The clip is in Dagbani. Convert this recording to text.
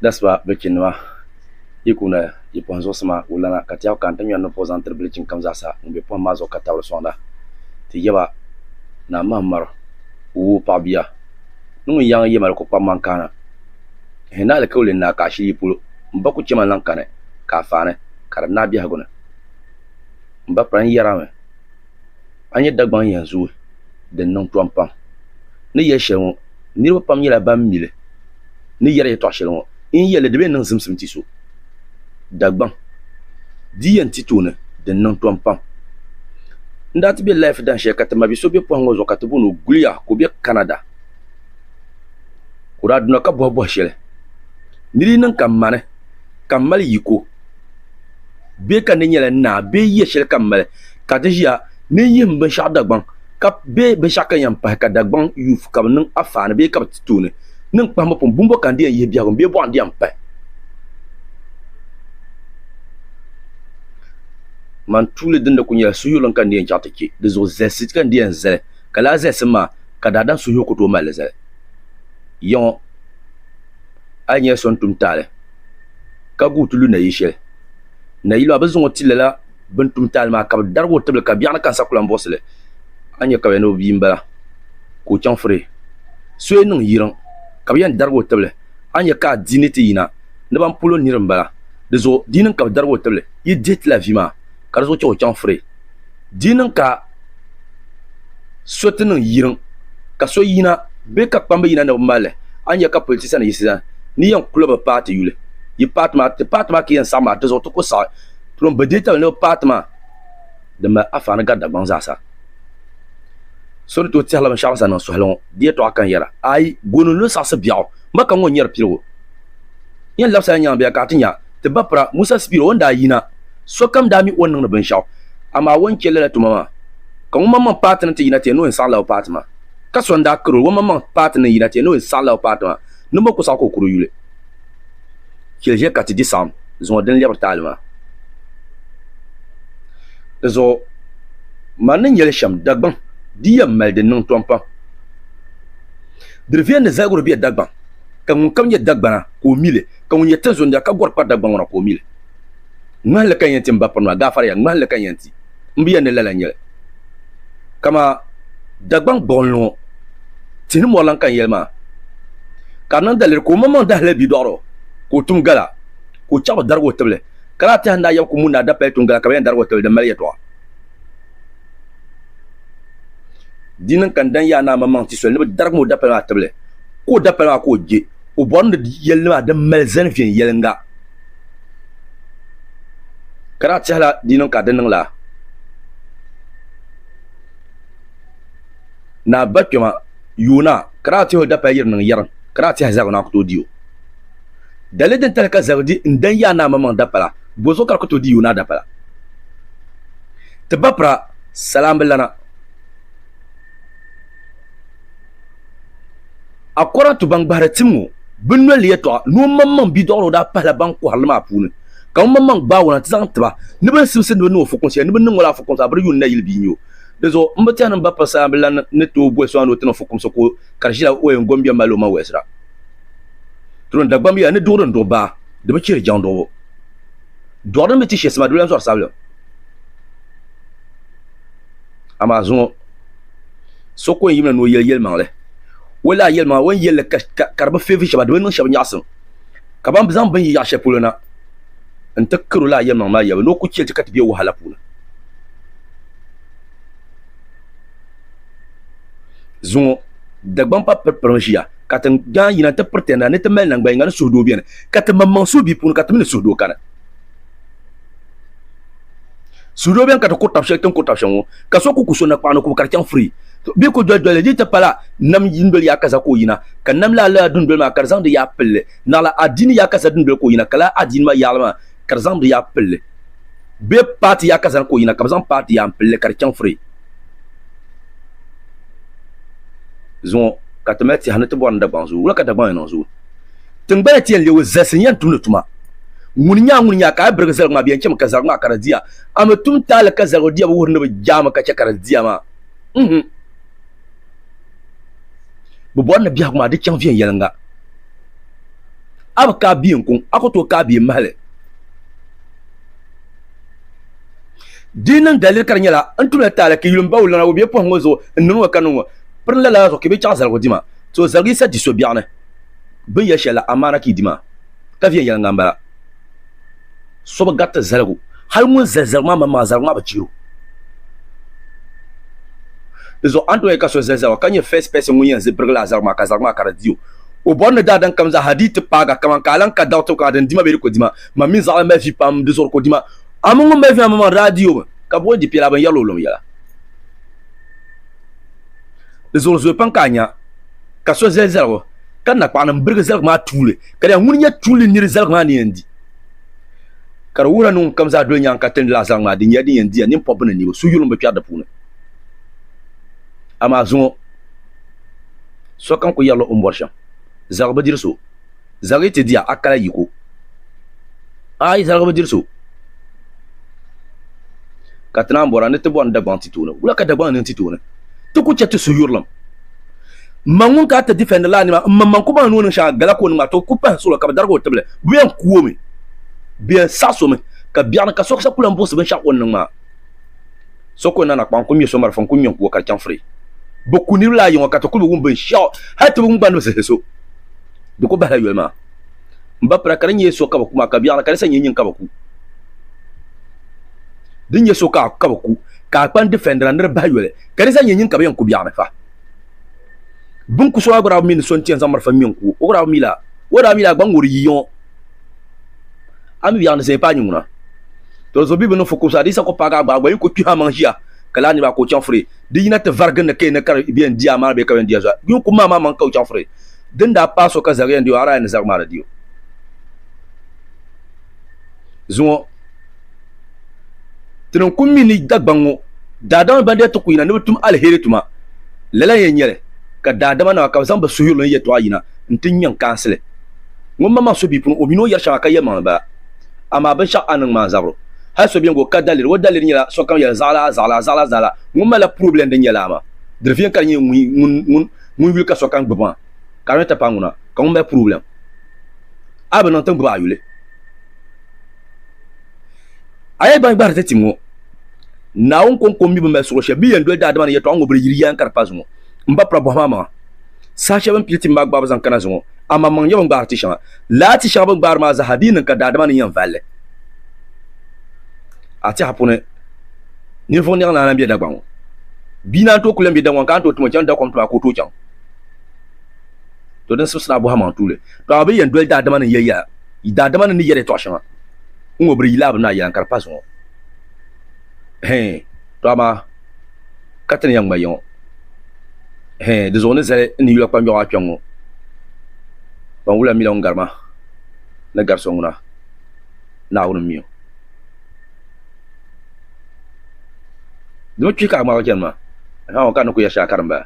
Dasiba bɛ chinnima, yi ku na yi pɔhim zuɣusi maa wulana, ka Tɛɛɣu kani ti ŋmɛri nini pɔh zaŋ tiri bilichini kam zaa sa ŋun be pɔhim maa zuɣu ka tabili sɔŋda. Ti yaba, Naa Mahammaru, wuui paɣ bia, ni ŋun yaŋ yemali ku kpab man kaana. Hɛ ni alikauli n-naai ka a shili yi polo, m ba ku chɛ ma n-laŋ kani ka a faani, ka di naai biɛhigu ni. M ba kpalim yɛri a mi. a ni nyɛ Dagbaŋ yɛn zooi din niŋ tɔm pam ni yɛli shɛli ŋɔ niriba pam nyɛla ban mi li ni yɛri yɛtɔɣ shɛli ŋɔ n yi yɛli li di bee niŋ zimsim ti so Dagbaŋ di yɛn ti tooni din niŋ tɔm pam n daa ti be lahifu dan shɛli ka ti mabi so be pɔhim ŋɔ zuɣu ka ti booni o Guliya ka o be Canada ka o daa duna ka bɔhibɔhi shɛli ni di yi niŋ ka m ma ni ka m mali yiko. bɛ ka di nyɛla naa bee yiya shɛli ka n mali ka ti ʒiya ni n yihim binshɛɣu Dagbaŋ bee binshɛɣu ka n yɛn pahi ka Dagbaŋ yuuf ka bɛ niŋ afaani bee ka bɛ ti tooni ni n kpahimbu pun buŋ bo ka n di yɛn yihi biɛhigu bee bɔɣu n di yɛn pahi man tuuli dini di kuli nyɛla suhuyurlim ka n di yɛn chaŋ ti chɛ di zuɣu zalisi ka n di yɛn zali ka lala zalisim maa ka daadam suhuyur ku tooi mali li zali ya ŋɔ a yi nyɛla so n tum taali ka guui ti lu nayili shɛli. Nayili maa bɛ zaŋ o ti lala bɛ ni tum taali maa ka bɛ darigi o tibili ka biɛɣuni ka n sa ku lan buɣisi li. A ni nya ka bɛ ni o bia m-bala ka o chaŋ firi soya niŋ yiriŋ ka bɛ yɛn darigi o tibili. A ni nya ka a di ni ti yina ni ban pol o nir m-bala. Dizuɣu di yini ka bɛ darigi o tibili yi dihi ti la vi maa. ka di zuɣu chɛ o chaŋ fure. Di yi niŋ ka so ti niŋ yiriŋ ka so yina bee ka kpamba yina ni bɛ mali li, a ni nya ka politisa ni yiɣisi zani ni yɛn kuli bɛ paati yuli. Yi paati maa, ti paati maa ka yɛn saɣim maa, di zuɣu ti kuli saɣi purom bɛ deei tabili ni bɛ paati maa din mali afaani gari Dagbaŋ zaasa. So ni tooi tɛhila binshɛɣu bɛ sani niŋ suhili ŋɔ, di yɛtɔɣa ka n yɛra, Aai! Gooni n-lo saɣisi biɛɣu, ma ka ŋ-ŋɔ nyari piligu. Yɛn labisila nyaŋ bɛ ya ka a ti nya ti ba pira Musa Sipiro o ni daa yina. Sokam daa mi o ni niŋdi binshɛɣu, amaa o ni chɛ lala tuma maa. Ka ŋumaŋmaŋ paati ni ti yina ti ya ni o yɛn saɣila o paati maa. Ka so n-daa kari o, Ŋumaŋmaŋ paati ni yina ti ya ni o yɛn saɣila o paati maa, niŋbu ku saɣi ka o kuri yuli. Chɛli ʒiya ka ti di saɣim zuŋɔ din lɛbiri taali maa. Di zuɣu mani ni nyɛli shɛm, Dagbaŋ di yɛn mali din niŋ tɔmpam. Diri viɛndi zaligiri be Dagbaŋ. ka ŋunkam nyɛ Dagbana, ka o mi li, ka ŋun nyɛ tinzundia ka gɔri kpari Dagbani ŋɔ na, ka o mi li. Ŋmahinli ka n yɛn ti m ba pirimaa, gaafariya, ŋmahinli ka n yɛn ti, m bi yɛli ni lala n-nyɛ li. Kaman Dagbaŋ gbuɣinli ŋɔ, tihi ni mɔri lan ka n yɛli maa, ka di niŋ daliri ka omaŋmaŋ daa hali bidɔɣiri o, ka o tum gala, ka o chaɣ bi darigi o tibili. Ka lala tɛha ni daa yab ku mu ni a dapaya tum gala ka bɛ yɛn darigi o tibili din mali yɛtɔɣa. Di niŋ ka n dan Yaa Naa maŋmaŋ ti soli ni bɛ darigi ma o dapali maa tibili, ka o dapali maa ka o je. O bɔri ni di yɛlli maa din mali zani viɛnyɛliŋga, ka daa tɛhila di niŋ ka di niŋ la Naa Bakpɛma yooi na, ka daa tɛhi o dapali yiri niŋ yɛrim, ka daa tɛhi zaligu na ku tooi di o. Dali din tali ka Zɛbidi n dan Yaa Naa maŋmaŋ dapala, bɔzuɣu ka di ku tooi di Yoonaah dapala? Ti bapira, sala m-bi lana. A Kɔratu ban gbahiri tim ŋɔ, bɛ noli ni yɛtɔɣa ni o maŋmaŋ bidɔɣiro daa pahila ban kɔhiri li maa puuni, ka o maŋmaŋ gbaag o na nti zaŋ ti ba ni bɛ ni simsi ni bɛ niŋ o fukumsi shɛli ni bɛ ni niŋ o la fukumsi a bɛ di yuun nayili bia n-nyɛ o. Dinzuɣu m bi tɛhi ni m bapira sala m-bi lana ni tooi boli so a ni o ti niŋ fukumsi ka o kari ʒila o yɛn gombiɛm mali o maŋ wɛlisira. Tulim Dagbamb yɛla ni duɣiri n-duɣi baa di bi chihiri jɛŋduɣibu. Dɔɣu din bi ti shɛsima di bi lan zɔri sabilim. Amaa zuŋɔ so ku yɛn yimina ni o yɛli yɛlimaŋli. O lahi yɛlimaŋli o ni yɛli li ka di bi feevi shɛba di bi niŋ shɛba nyaɣisim ka ban zaŋ bini yi yaɣ shɛli polo na nti kari o lala yɛlimaŋli maa yɛlibu ni o ku chɛ li ti ka ti be wahala puuni. Zuŋɔ Dagbamb pa piripirimi ʒiya. ka ti daa yina nti piriti na ni ti mali naŋgban yiŋa ni suhudoo beni, ka ti maŋmaŋ suhi bɛ puuni ka ti mi ni suhudoo kani. Suhudoo beni ka ti kuri tab shɛli ti ni kuri tab shɛli ŋɔ, ka so ku ku so nakpaɣu ni kubu ka di chaŋ firii. Bɛ ku doli doli li, di yi ti pala nam dundoli yaakaza ka o yina, ka nam laa lala dundoli maa ka di zaŋ di yaɣa pili li. Naɣila adiini yaakaza dundoli ka o yina, ka lala adiini maa yaɣili maa ka di zaŋ di yaɣa pili li. Bɛ paati yaakaza ni ka o yina, ka bɛ zaŋ paati yaɣa m-pili li ka di chaŋ firii. zuŋɔ ka ti mali tɛha ni ti bɔri ni Dagbaŋ zoo wula ka Dagbaŋ ni niŋ zoo tiŋgbana ti yɛn leei o zalisi n-yɛn tumdi tuma ŋuni nyaa ŋuni nyaa ka a yi birigi zaligu maa bɛ yɛn chɛmi ka zaligu maa ka di diya a mi tum taali ka zaligu diya bi wuhiri ni bi jaami ka chɛ ka di diya maa m-hmm bɛ bɔri ni biɛhigu maa di chaŋ viɛnyɛliŋga a bi kaai bia n-kuŋ a ku tooi kaai bia m-mahi li Di niŋ daliri ka di nyɛla n tumla taali ka yulim bawu lana o bɛ pɔhim ŋɔ zuɣu n niŋ ŋɔ ka niŋ ŋɔ piri lala zuɣu ka bɛ chaɣi zaligu dima to zaligi yisa di so biɛɣuni bini yɛli shɛli la amaana ka yi di maa ka viɛnyɛliŋga n bala so bi gariti zaligu hali ŋun zali zaligu maa maŋmaŋa zaligu maa bi chɛro di zuɣu a ni tooi ka so zali zaligu ka nyɛ first person ŋun yɛn birigi lala zaligu maa ka zaligu maa ka di di o o bɔri ni daadam kam zaa ha di yi ti paagi a kaman ka a lan ka daɣu tibu kam a din dima bee di ko dima Mam mi zaɣili mali fi pam di zuɣu ka o di ma. Amun ŋun mali vina maa daa di o mi, ka bɛ o ni di piɛla binyɛrili o lom yɛla. Di zuɣu zooi pam ka a nya ka so zali zaligu, ka nakpaɣinim birigi zaligu maa tuuli, ka di nya ŋuni n-nyɛ tuuli nir zaligu maa ni yɛn di. Ka di wuhirila ni ŋunkam zaa doli nyaŋ ka tilindi lala zaligu maa, di nyɛla din yɛn diya, nimpɔbbi ni niriba, su yulim bi kpɛri di puuni. Amaa zuŋɔ sokam kul yɛrila o ni bɔri shɛm, zaligu bi diri so. Zaligi ti dia akala yiko. A yi zaligi bi diri so, ka ti naan bɔra ni ti bɔni Dagbaŋ ti tooni, wula ka Dagbaŋ niŋ ti tooni? Ti ku chɛ ti suhuyurilim. M ma ŋun ka ti difɛndi la a nima, m maŋmaŋ ku baŋ ni o niŋ shɛŋa gala ka o niŋ maa, ti o ku pahi suɣulo ka bɛ darigi o tibili. Bɛ yɛn ku o mi, bɛ yɛn saɣis o mi, ka biɛɣu ni ka sokasa ku lan buɣisi binshɛɣu o ni niŋ maa. So ku nana kpaŋ n-ku ŋme so marafa n-ku ŋme n-ku o ka di chaŋ firi. Bɛ ku niriba la a yiŋɔ ka ti ku bi wum binshɛɣu, hal ti bi wum gba ni bɛ zihiri so. di ku bahila yoli maa. M ba pira ka di nyɛ so ka bɛ ku maa ka biɛɣuni ka di sa nyɛ nyin ka bɛ ku. Di nyɛ so ka ka bɛ ku ka a kpani difɛndira ni di bahi yoli ka di sa nyɛ nyin ka bɛ yɛn ku biɛɣuni fa. Bɛ ni ku so maa gba daa bi mi ni so n-ti yɛn zaŋ malifa ŋme n-ku o, o gba daa bi mi laa. O daa mi laa gba ŋ-ŋɔri yiyiŋɔ. A mi biɛɣuni zaya pa a nyin ŋuna. To di zuɣu Bibili ni fukumsi hadiisa kɔpu paagi agbaa gba yi ku kpihim a maŋ ʒiya ka laa niriba a ka o chaŋ furi di yina ti varigi ni ka yi ni kari bɛ yɛn di a maana bee ka bɛ yɛn di a zuɣu a. Yi ni ku mi a maa maŋ ka o chaŋ furi. Di ni daa paai so ka zaɣi yɛn di o, Araya ni zaɣi maa di di o. Zuŋɔ ti ni ku mi ni Dagbaŋ ŋɔ daadama ban daa ti ku yina ni bɛ tum aliheri tuma lala n-yɛn nyɛ li, ka daadama nima ka bɛ zaŋ bɛ suhuyuri ni yɛtɔɣa yina n-ti nya n-kaansi li. Ŋun maŋmaŋ so bia puuni, o mi ni o yɛri shɛŋa ka yɛlimaŋli bala. Amaa binshɛɣu a ni niŋ maa n-zabiri hali so bɛn gba o ka daliri. O daliri nyɛla sokam yɛli zaɣilaa, zaɣilaa, zaɣilaa, zaɣilaa. Ŋun malila purobilɛm din nyɛ lala maa, di viɛŋ ka di nyɛ ŋun ŋun yuli ka sokam gbubi maa ka di ni ti paai ŋuna ka ŋun mali purobilɛm a bi niŋ ti gbubi a yuli. A yi ban gbahiri ti tim ŋɔ, Naawuni kɔŋko mi bi mali suɣili shɛli bɛ yɛn doli daadama ni yɛtɔɣa ŋɔ bi di yiri yaan kari pa zuŋɔ. M ba pula bɔhi ma amaŋa, saha shɛli bɛ ni pili tim maa gbaai bi zaŋ kana zuŋɔ, a maŋmaŋ nyɛ bɛ ni gbaari ti shɛŋa. Lala ti shɛŋa bɛ ni gbaari maa zaa ha di yi niŋ ka daadama ni yɛn vali li, a tɛha puuni. Ninvuɣ niɛɣu naana m-be Dagbaŋ ŋɔ. Bia naan tooi kuli m-be Dagbaŋ ka a ni tooi tuma chaŋ dakom tuma ka o tooi chaŋ. To din sibisiri a bɔhimmaŋ tuuli. To a bi yɛn doli daadama ni yɛli yɛla, yi daadama ni ni yɛri yɛtɔɣ shɛŋa n ŋɔ bɛ di yila a bi ni a yɛla n ka di pa zuŋɔ. Hɛɛn, to amaa ka ti ni yɛn ŋma ya ŋɔ. Hɛɛn, di zuɣu ni zali n ni yula kpanjɔɣu a kpiɔŋ ŋɔ. Kpanwula mi la ŋun gari ma ni gari so ŋuna. Naawuni mi o. Dama kpi ka a ŋmaagi chani maa, ahaa ŋɔ ka n ni kul yɛli shɛli a karimbaya.